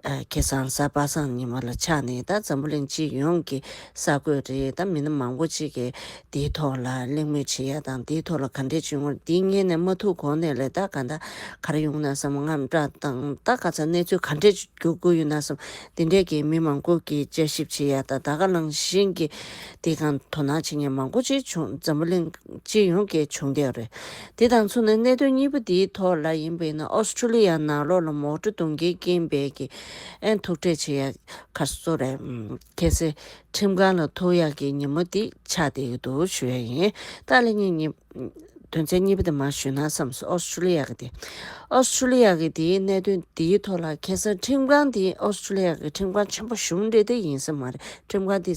ཁྱེད་གཙང་གསར་པ་སངས་ཉི་མ་ལ་ཆགས་ནས་ད་འཛམ་བུ་གླིང་སྤྱི་ཡོངས་ཀྱི་གསར་འགོད་རེད་ད་མི་སྣ་མང་པོ་གཅིག་གིས་འདིའི་ཐོག་ལ་གླེང་མོལ་བྱེད་ཡ་དང་འདིའི་ཐོག་ལ་ག་འདྲའི་བྱུས་ངོར་འདི་ཉན་ནས་མ་ཐུག་གོང་ནས་ལས་ད་ག་ད་གར་ཡོང་ན་བསམ་ངམ་བཀྲ་དང་ད་ག་ཚ་གནས་ཚུལ་ག་འདྲས་རྒྱུག་དགོས་ཡོད་ན་བསམ་འདི་འདྲས་ཀྱིས་མི་མང་པོ་གིས་དཔྱད་ཞིབ་བྱེད་ཡ་ད་ད་ག་གླང་ཤིང་གི་འདི་གང་དོ་སྣང་བྱེད་མཁན་མང་པོ་གཅིག་བྱུང་འཛམ་བུ་གླིང། སྤྱི་ཡོངས་ཀྱི་བྱུང་རྒྱལ་རེད། དེ་དང་མཚུངས་ནས་གནད་དོན་གཉིས་པོ་འདིའི་ཐོག་ལ་ཡིན་པའི་ན་ཨོས་ཏྲེ་ལི་ཡ་ནང་ལོགས་ལ་མོག་འགྲོ་གཏོང་མཁན་རྐྱེན་འབས་ཀྱི་ཨན་ཐུག་འཕྲད་བྱེད་ཡག་ཁ་གསོ་རེད། གལ་སྲིད་ཁྲིམས་ཁང་ལ་ཐུག་ཡག་གི་ཉིན་མོ་འདི་ཆགས་བསྡད་ཀྱི་འདུག་ཞུ་ཡག་ཡིན། ཏཱ་ལའི་གཉིས་གཉིས། དོན་ཚན་གཉིས་པ་དེ་མ་ཞུས་ན་བསམ་སོང་ཨོས་ཏྲེ་ལི་ཡ་གི་དེ། ཨོས་ཏྲེ་ལི་ཡ་གི་དེའི་གནད་དོན་འདིའི་ཐོག་ལ་གལ་སྲིད་ཁྲིམས་ཁང་འདི་ཨོས་ཏྲེ་ལི་ཡ་གི་ཁྲིམས་ཁང་ཆེན་པོ་གཞུང་འབྲེལ་དེ་ཡིན་ས་མ་རེད་ཁྲིམས་ཁང་འདི།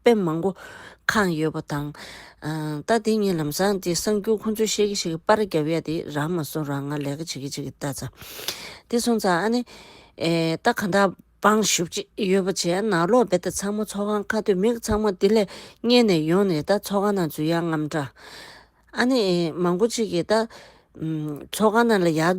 དཔེ་མང་པོ་གང་ཡོད་པ་དང། ད་དེ་གཉིས་ལམ་སང་དེ་གསང་རྒྱུ་ཁོང་ཚོས་བཤད་གི་བཤད་གི་པར་རྒྱབ་ཡ་དེ་རང་མ་གསུང་རང་ང་ལས་ཀ་བྱེད་གི་བྱེད་གི་ལྟ་ཚ། དེ་གསུང་ཚ་ཨ་ནི། ད་གང་དག་པང་བཞུ་བྱེད་ཀྱི་ཡོད་པ་བྱས་ནག་ལོག་བེད་ད་ཚང་མ་ཚོགས་ཁང་ཁ་སྟོད་མིག་ཚང་མ་དེ་ལས་གཉེར་ནས་ཡོང་ནས་ད་ཚོགས་ཁང་ནང་འཛུལ་ཡག་རྔམ་དྲག། ཨ་ནི། མང་པོ་ཅིག་གིས་ད། ཚོགས་ཁང་ནང་ལ་ཡག།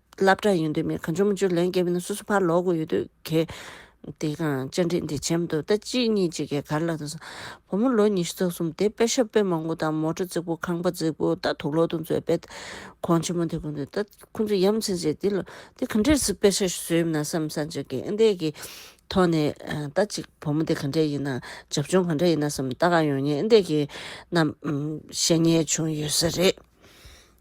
བླ་བྲང་ཡོད་འདོད་མེད་གང་བྱུང་མ་བྱུང་ལན་བརྒྱབ་ན་སོ་སོ་ཕར་ལོག་དགོས་ཡོད་འདོད་གལ། དེ་གང་བཅར་འདྲི་འདི་བྱེད་མ་ཐུབ་ད་གཅིག་གཉིས་གཅིག་གིས་གར་ལ་ད་སོང། བུ་མོ་ལོ་ཉི་ཤུ་རྩ་གསུམ་དེ་དཔེ་ཤོ་དཔེ་མང་པོ་དང་མོ་ཏྲོ་རྩིག་པོ་ཁང་པ་རྩིག་པོ་ད་དུག་ལོག་དུག་མཛོད་དཔེ། གོང་ཆེན་མོ་དེ་གོ་འདོད་ད་ཁོ་ཚོ་ཡམ་ཆེན་ཟེར་འདི་ལོ། འདི་ག་འདྲས་སུ་དཔེ་ཤོ་བཟོས་ཡོད་ན་བསམ་བསམ་བྱ་གལ་ཨེ་འདས་ཀྱི། ཐོག་ནས་ད་གཅིག་བུ་མོ་དེ་ག་འདྲས་ཡིན་ནམ་བྱབ་ཆུང་ག་འདྲས་ཡིན་ནམ་བསམ་ད་ག་ཡོང་ཉེ་ཨེ་འདས་ཀྱི། ནམ་ཞེ་ཉེས་བྱུང་ཡོད་ས་རེད།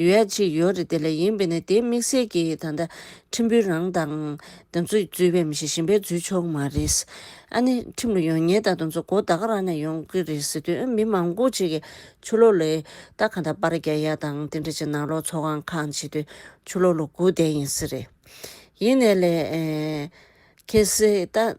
ཡོད་ཡ་ཅིག་ཡོད་རེད་དེ་ལས་ཡིན་པས་ན་དེ་དམིགས་བསལ་གྱི་ད་ལྟ་ཁྲིམས་བུའི་རང་དང། ད་ཚོད་རྫུས་པའི་མི་ཞིག་ཞིམ་པའི་རྫུས་ཆོག་མ་རེད། ཨ་ནི་ཁྲིམས་ལ་ཡོང་ཉེན་ད་ད་ཚོད་མགོ་ཟླ་ག་རང་ནས་ཡོང་གི་རེད་ཟེར་དུས་མི་མང་པོ་ཅིག་གིས་ཆུ་ལོག་ལས་རྟགས་གང་དག་པར་རྒྱག་ཡ་དང་དེ་འདྲ་ཅིག་ནང་ལོག་ཚོགས་ཁང་ཁང་བྱེད་དུས་ཆུ་ལོག་ལོ་དགུ་བསྡད་ཡིན་ཟེར། ཡིན་ནས་ལས། ཁེ་སེ་ད།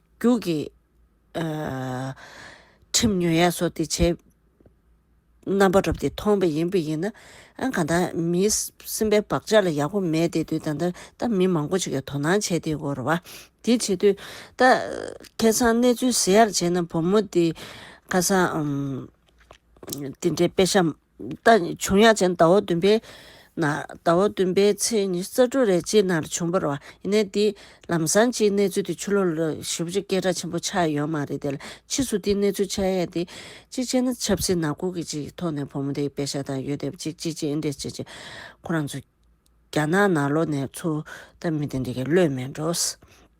རྒྱུགས་ཀྱི། ཁྲིམས་ཉོན་ཡག་སོགས་དེ་བྱས། རྣམ་པ་རབ་དེ་མཐོང་བས་ཡིན་པ་ཡིན། ཨང་གང་དག་མི་སེམས་པའི་བག་ཆགས་ལ་ཡག་པོ་མེད་དེ་དུས་ད་ལྟ་ད་མི་མང་པོ་ཅིག་གིས་དོ་སྣང་བྱས་དེ་གོ་ར་བ། དེ་བྱེད་དུས་ད། ཁེ་སང་གནས་ཚུལ་ཟེར་ཡག་བྱས་ན་བུ་མོ་དེ། ཁ་སང། དེ་འདྲའི་དཔེ་ཤམ། བྱུང་ཡ་ཅན་ཟླ་བ་བདུན་པའི། ཟླ་བ་བདུན་པའི་ཚེས་ཉི་ཙཱ་ཀྲུ་རེ་ཅི་ནར་བྱུང་བར་བ་ཡིན་ནའི་འདི་ལམ་སང་སྤྱིའི་གནས་ཚུལ་དེ་ཆུ་ལོག་ལ་ཞིབ་བརྗོད་སྐད་གྲགས་ཆེན་པོ་ཆགས་ཡོད་མ་རེད་དེ་ལ་ཕྱིས་སུ་འདིའི་གནས་ཚུལ་ཆགས་ཡས་དེ། གཅིག་བྱས་ན་ཆབ་སྲིད་ནག་ཁུག་གི་ཅིག་ཐོག་ནས་བུ་མོ་དེའི་དཔེ་ཆ་དང་ཡོད་དེབ་ཅིག་ཅི་བྱེད་འདི་བྱེད་ཅེས་ཁོ་རང་ཚོ། རྒྱ་ནག་ནག་ལོ་ནས་ཚུར་ལྟ་མི་དེ་འདི་གས་བློས་མེད་འགྲོ།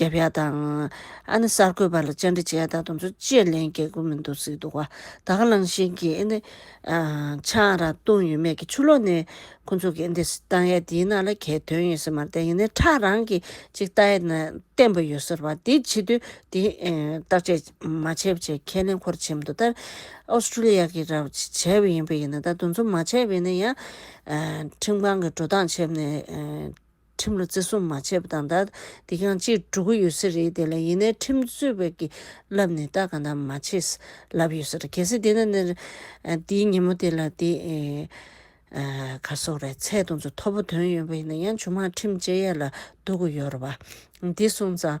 རྒྱབ་ཡ་དང། ཨ་ནི་གསར་འགོད་པ་ལ་བཅར་འདྲི་བྱས་ད་དུང་ཚོ་བཅས་ལན་རྒྱག་དགོས་མི་འདུག་ཟེར་འདུག་ད་ག་ལང་ཤིང་གིས་ཨེ་ནི། ཆང་རག་བཏུང་ཡོད་མེད་ཀྱི་ཆུ་ལོག་ནས་ཁོ་ཚོ་གིས་ཨེ་འདི་བཏང་ཡས་འདིའི་ནང་ལ་གས་དོན་ཡོད་ཟེར་མ་བསྟན་ཡིན་ནའི་ཁྲག་རང་གིས་གཅིག་བཏང་ཡས་ན་བསྟན་པ་ཡོད་ཟེར་བ་འདི་བྱེད་དུས་འདི་བརྟག་དཔྱད་མ་བྱས་པ་བྱས་ཁས་ལེན་ཁོར་བྱེད་མི་འདུག་ད Australia གིས་ར་བྱས་པ་ཡིན་པ་ཡིན་ན་ད་དུང་ཚོ་མ་བྱས་པ་ཡིན་ན་ཡང། ཁྲིམས་ཁང་གིས་འགྲོ་སྟངས་བྱས་པ་ནས། ཁྲིམས་ལ་བརྩི་སྲུང་མ་བྱས་པ་དང། དེ་གང་ཅིའི་སྒྲོ་གུ་ཡོད་ས་རེད་དེ་ལ་ཡིན་ནའི་ཁྲིམས་རྩོད་པ་གི་ལབ་ནས་ལྟ་གང་ལྟར་མ་བྱས་ས་ལབ་ཡོད་ས་རེད་གལ་སྲིད་དེ་ན་དེའི་ཉིན་མོ་དེ་ལ་དེ་གར་སོག་རེད་ཚད་གཏོང་ཚོ་ཐོབ་པོ་དོན་ཡོད་པ་ཡིན་ན་ཡང་ཆུང་མ་ཁྲིམས་བཅད་ཡས་ལ་འདུག་གི་ཡོད་རེད་བ། དེ་སོང་ཙང།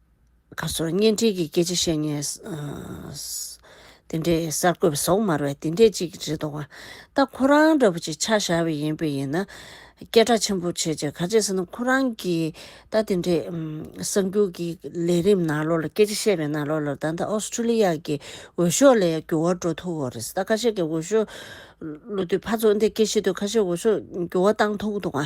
ཁ་སོར་བརྙན་འཕྲིན་གྱི་སྐད་ཆ་བཤད་ཉེས། དེ་འདྲའི་གསར་འགོད་པ་ཟོག་དམར་བས་དེ་འདྲས་ཅིག་རེད་འདུག་བ། ད་ཁོ་རང་འདྲ་བོ་ཅིག་ཆ་བཞག་བའི་ཡིན་པས་ཡིན་ན། སྐད་གྲགས་ཆེན་པོ་བྱེད་ཅིག་ག་ཅེས་ཟེར་ན་ཁོ་རང་གིས་ད་དེ་འདྲའི་གསར་འགྱུར་གྱི་ལས་རིམ་ནང་ལོགས་ལ་སྐད་ཆ་བཤད་པའི་ནང་ལོགས་ལ་ད་ལྟ་ཨོས་ཏྲེ་ལི་ཡ་གྱི་འོས་ཤོག་ལས་འགྱུར་བ་འགྲོ་ཐུག་འོ་རེད་ད་ཁ་ཤས་ཀྱི་འོས་ཤོག་བླུགས་དུས་ཕར་ཚུར་འདེད་སྐད་བཤད་དུས་ཁ་ཤས་འོས་ཤོག་འགྱུར་བ་བཏང་ཐུག་འདུག་བ།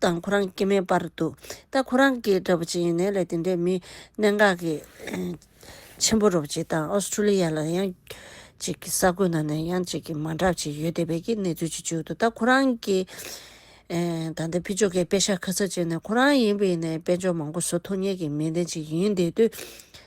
དང་ཁོ་རང་སྐྱེ་མེད་པར་འདུག་ད་ཁོ་རང་གིས་འདྲ་པོ་ཅི་ཡིན་ནས་ལས་དེ་འདྲས་མི་གནད་འགག་གི། ཆེན་པོ་རོབ་ཅིག་དང་ཨོ་སི་ཁྲུ་ལི་ཡ་ལ་ཡང། ཅིག་གི་ས་ཁུལ་ནང་ནས་ཡང་ཅིག་གི་མ་འདྲ་བ་ཅིག་ཡོད་བསྡད་པའི་གི་གནས་ཚུལ་ཅིག་བྱུང་འདུག་ད་ཁོ་རང་གིས། ད་ལྟ་ཕི་ཇོ་ཁའི་དཔེ་ཤག་ཁ་ཚ་བྱས་ནས་ཁོ་རང་ཡིན་པའི་ནས་དཔེ་འཇོག་མང་པོ་བཟོ་ཐུབ་ངེས་ཀྱི་མི་དེ་ཅིག་ཡིན་བསྡད་དུས།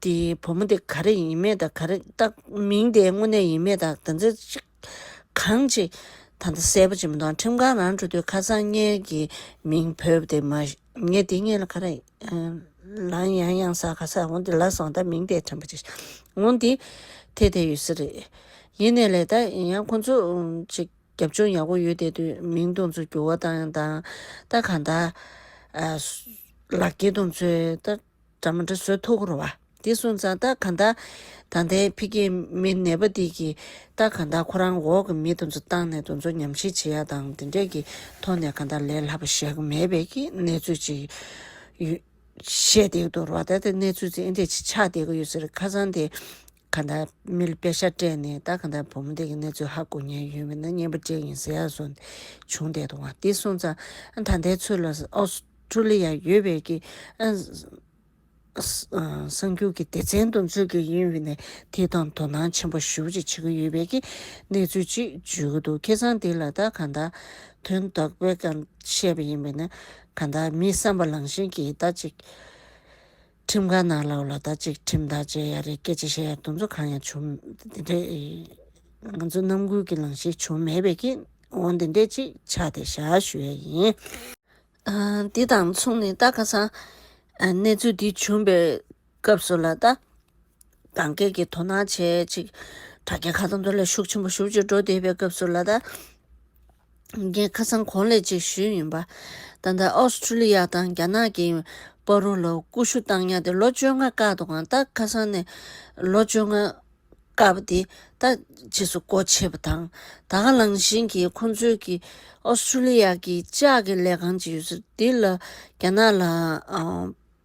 དེ་བུ་མོ་དེ་ག་རེ་ཡིན་མེད་དང་ག་རེ་བཏགས་མིང་དེ་དངོས་གནས་ཡིན་མེད་དང་དང་ཚིག་གཅིག་གང་ཅི་ད་ལྟ་གསལ་པོ་ཅི་མི་འདུག་ཁྲིམས་ཁང་རང་འཁྲུ་དུས་ཁ་སང་ངེད་ཀྱི་མིང་བོས་དེ་མ་ངེད་དེ་ངེད་ལ་ག་རེ་ལང་ཡང་ཡང་ས་ག་ས་འོང་དེ་ལ་སོང་ད་མིང་དེ་ཁྲིམས་པ་ཅིག་འོང་དེ་དེ་དེ་ཡོད་ས་རེད། ཡིན་ནའི་ལེ་ད་ཡང་ཁོ་ཚོ་ཅིག་རྒྱབ་ལྗོངས་ཡག་པོ་ཡོད་དེ་དུས་མིང་གདོང་ཚོད་འགྱུར་བ་དང་ད་གང་ལྟར་ལག་སྐྱེས་གདོང་ཚོད་ད། སྒྲ་མ་འདྲ་སོལ་ཐོ་འཁོར་བ། འདི་སོང་ཙང་སྟག་ག་འདག་ད་ལྟའི་ཕི་གེ་མི་ནད་པ་འདི་གི་སྟག་ག་འདག་ཁོ་རང་འོག་གི་མི་དེ་ཚོ་བཏང་ནས་དེ་ཚོ་ཉམས་ཞིབ་བྱེད་ཡ་དང་དེ་འདྲས་ཀྱི་ཐོག་ནས་ག་འདག་ལས་ལྷག་པ་བཞག་གི་མེད་པའི་གི་གནས་ཚུལ་ཅིག་ཡོད། བཤད་བསྡད་ཀྱི་འདུག་རོ་ད་ལྟའི་གནས་ཚུལ་ཚིག་ཨེ་འདྲས་ཆགས་བསྡད་ཀྱི་ཡོད་ཟེར་ཁ་སང་དེ་གང་ལྟར་མི་ལ་དཔེ་ཆ་སྤྲད་ནས་ད་གང་ལྟར་བུ་མོ་དེ་གི་གནས་ཚུལ་ཧ་གོ་ཉན་ཡོད་མེད་ན་སྙན་པོ་ཅན་ཡིན་ཟེར་ཡག་སོང་བྱུང་བསྡད་འདུག་བ་འདི་སོང་ཙང་ད་ལྟའི་ཚུལ་ལ་ཨོ་སི་ཁྲུ་ལི་ཡར་ཡོད་པའི་གི་གསང་རྒྱུགས་ཀྱི་སྡེ་ཚན་དུ་འཛུལ་གི་ཡིན་བས་ནས་དེ་དང་དོ་སྣང་ཆེན་པོ་ཞུ་ཅིག་བྱེད་ཀྱི་ཡོད་པའི་གི་གནས་ཚུལ་ཅིག་བརྗོད་ཀྱི་འདུག་ཁྱེད་ཚང་འདི་ལ་ད་གང་ལྟར་དོན་དག་པས་ཀྱང་བཤད་པ་ཡིན་པས་ན་གང་ལྟར་མི་བསམ་པ་ལང་བཞིན་གྱིས་ད་ཅིག། ཁྲིམས་ཁང་ནང་ལ་ལོ་ཟླ་གཅིག་ཁྲིམས་ཐག་བཅད་ཡ་རེད་སྐད་ཆ་བཤད་ཡ་འདུག་ཚོ་གང་ཡང་བྱུང་དེ་འདྲས་ང་ཚོ་རྣམ་ཀུན་གྱི་ལངས་ཤེས་བྱུང་མེད་པས་ཀྱིས་འོང་དེ་འདྲས་ཅིག་ཆགས་ཏེ་ཞག་ཞུ་ཡ་ཡིན། འདི་དང་མཚུངས་ནས་ད་ཁ་སང་གནས་ཚུལ་འདི་བྱུང་པའི་སྐབས་སུ་ལ་ད་གང་སྐད་ཀྱི་དོ་སྣང་བྱེད་ཅིག་དྲ་རྒྱ་ཁ་ཐོར་ཐོར་ལས་ཤུགས་ཆེན་པོ་ཞུགས་ཅིག་འགྲོ་བསྡད་པའི་སྐབས་སུ་ལ་ད། འགན་ཁ་སང་གོང་ལས་ཅིག་ཞུས་ཡོད་པ། ད་ལྟ་ཨོ་སི་ཁྲུ་ལི་ཡ་དང་རྒྱ་ནག་གིས་པར་རོ་ལ་ཀུ་ཤུ་བཏང་ཡ་དེ་ལོ་བཅོ་ལྔ་བཀག་འདུག་གང་ལྟར་ཁ་སང་ནས་ལོ་བཅོ་ལྔ་བཀག་པ་དེ་ད་ཕྱིས་སུ་སྒོ་ཕྱེས་པ་དང། ད་ག་ལང་བཞིན་གྱིས་ཁོང་ཚོའི་གིས་ཨོ་སི་ཁྲུ་ལི་ཡ་གིས་ལྕགས་ཀྱི་ལས་ཁང་ཅིག་ཡོད་ཚུལ་དེ་ལ་རྒྱ་ནག་ལ།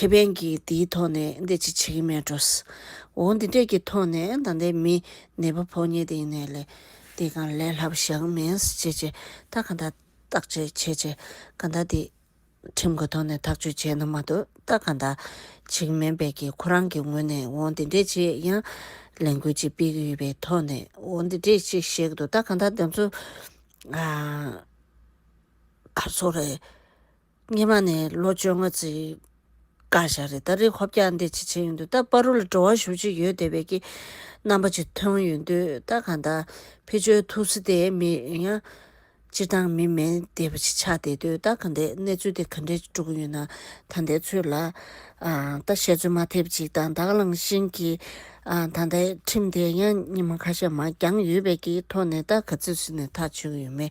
ཁེ་ཕན་གྱི་དེའི་ཐོག་ནས་འདེད་ཅིག་བྱེད་ཀྱི་མེད་འགྲོ། འོ་འདི་འདྲས་ཀྱི་ཐོག་ནས་ད་ལྟའི་མི་ནད་པ་ཕོག་ཉེས་དེ་ནས་ལས་དེ་གང་ལས་ལྷག་བཞག་གི་མིན་བྱས་བྱས་ད་གང་ད་བརྟག་དཔྱད་བྱས་བྱས་གང་ད་དེ་ཁྲིམས་ཀྱི་ཐོག་ནས་ཐག་གཅོད་བྱས་ན་མ་གཏོགས་ད་གང་ད་བྱེད་ཀྱི་མེད་པས་ཀྱི་ཁོ་རང་གི་ངོས་ནས་འོ་འདི་འདྲས་ཅིག་ཡང་ལས་འགུལ་ཅིག་སྤེལ་གྱི་ཡོད་པའི་ཐོག་ནས་འོ་འདི་འདྲས་ཅིག་བཤད་ཀྱི་འདུག་ད་གང་ད་དེ་ཚོ་ག་ཚོད་རེད། སྙེ་མ་ནས་ལོ་བཅོ་ལྔ་ཚེས་བཀའ་ཤག་རེད་ད་རེས་ཧོ་བཀྱག་འདི་བྱེད་བྱེད་ཡོད་འདུག་ད་པ་རུ་ལ་འགྲོ་བ་ཞུ་ཅི་ཡོད་དེ་བས་ཀྱི་རྣམ་པ་ཅི་ཐོན་ཡོད་འདུག་ད་གང་ད་ཕི་བཅོལ་ཐུབ་སི་དེ་མི་ཡང་སྤྱིར་བཏང་མི་མེད་དེ་བས་ཅི་ཆགས་དེ་འདུག་ད་གང་དེ་གནས་ཚུལ་དེ་ག་འདྲས་ཀྱི་འགྲོ་གི་ཡོད་ན་ད་འདས་ཚོད་ལ་ད་བཤད་ཚོད་མ་ཐེབས་ཅིག་དང་དྭགས་གླང་ཤིང་གི་ད་ལྟའི་ཁྲིམས་དེ་ཡང་སྙེ་མ་ཁ་ཤས་མ་འགྱངས་ཡོད་བས་ཀྱི་ཐོག་ནས་ད་ག་ཚོད་ཟིན་ནས་ཐག་ཆོད་གི་ཡོད་མེད་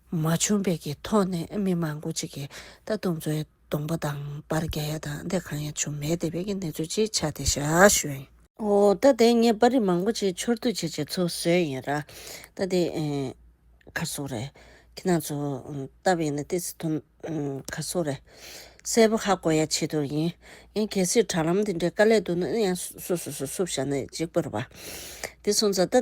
མ་བྱུང་བས་ཀྱི་ཐོག་ནས་མི་མང་པོ་ཅིག་གིས་ད་དུང་ཚོའི་སྡོང་པོ་དང་པར་རྒྱ་ཡ་དང་དེ་གང་ཡང་བྱུང་མེད་བསྡད་པའི་ཀྱི་གནས་ཚུལ་ཅིག་ཆགས་ཏེ་ཞག་ཞུན། འོ་ད་དེ་ངས་པར་རིས་མང་པོ་ཅིག་འཆོར་བསྡུ་བྱེད་བྱེད་ཚུལ་བཟོས་ཡིན་ར། ད་དེ། གར་སོང་རེད། ཁྱེད་རང་ཚོ་ལྟ་བ་ཡིན་ན་ཏི་སི་ཐུ། གར་སོང་རེད། གསལ་པོ་ཧ་གོ་ཡ་བྱེད་དོ་ཡིན། ཡང་གལ་སྲིད་དྲ་ལམ་དེ་འདྲའི་དཀའ་ལས་འདུག་ན་ཡང་སུ་སུ་སུ་སུ་བྱ་ན་ཅིག་པར་བ། དེ་སོང་ཙང་ད།